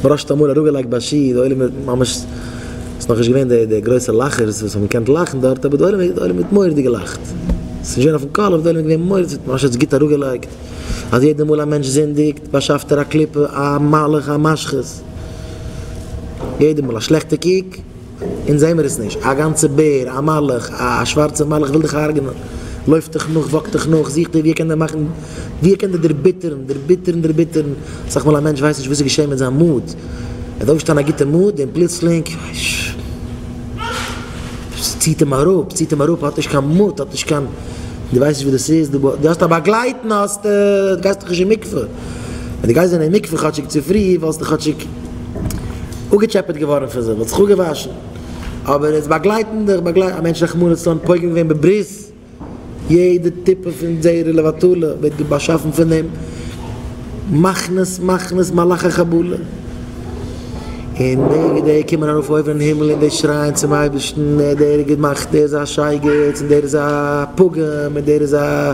בראשית אמאל אראפגעלייגט ביי שי די עולם האט ממש ס'איז נאכנישט געווען די די גרויסע לאכערס וואס האבן געקענט לאכן דארט אבער די עולם די עולם האט מורא'דיג געלאכט ס'נישט געווען אויפן קול אבער די עולם האט געווען מורא'דיג ס'האט ממש אזוי גוט אראפגעלייגט אז יעדע מאל א מענטש זינדיגט באשאפט ער א קליפה א מלאך א משחית יעדע מאל א שלעכטע קוק אונז זעהן מיר עס נישט, א גאנצע בער, א מלאך, א שווארצע מלאך וויל דיך הרג'נען, לויפט דיך נאך, וואקט דיך נאך, זוכט דיר ווי ער קען דיר מאכן, ווי ער קען דיר דערביטערן, דערביטערן, דערביטערן, אסאך מאל א מענטש ווייסט נישט וואס איז געשעהן מיט זיין מאד, ער האט אויפגעשטאנען א גוטע מאד און פלוצלינג, ס'ציהט אים אראפ, ציהט אים אראפ, ער האט נישט קיין מאד, ער האט נישט קיין, דו ווייסט נישט וואס דאס איז, דו האסט א באגלייטן האסטו, גייסט דיך נישט אין מקווה. ווען דו גייסט ווען אין מקווה כאטשיג צופרי וואלסטו כאטשיג אפגעטשעפעט געווארן פון זיך, וואלסט זיך אפגעוואשן, אבער עס באגלייטן דיך באגלייט א מענטש רחמנא לצלן פוגם געווען בברית, יעדע טיפה פון זעירא לבטלה ווערט באשאפן פון דעם מחנות מחנות מלאכי חבלה, און די ווי די קומען ארויף אויבן אין הימל און די שרייען צום אייבערשטן ער דער האט געמאכט דער איז א שייגעץ און דער איז א פוגם און דער איז א.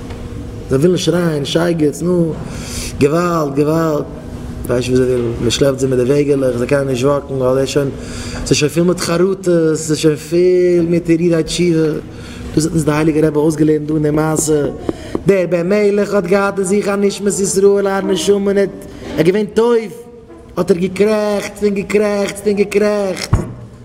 זיי ווילן שרייען שייגעץ נו געוואלד געוואלד ווייסט ווי זיי ווילן מען שלעפט זיי מיט די וועגעלעך זיי קענען נישט וואקן ווייל עס איז שוין עס איז שוין פיל מיט חרטות עס איז שוין פיל מיט הרהורי תשובה דאס האט אונז די הייליגע רבי אויסגעלערנט דא אין די מעשה דער בן מלך האט געהאט אין זיך א נשמת ישראל א נשמה און ער איז געווען טויב האט ער געקרעכצט און געקרעכצט און געקרעכצט.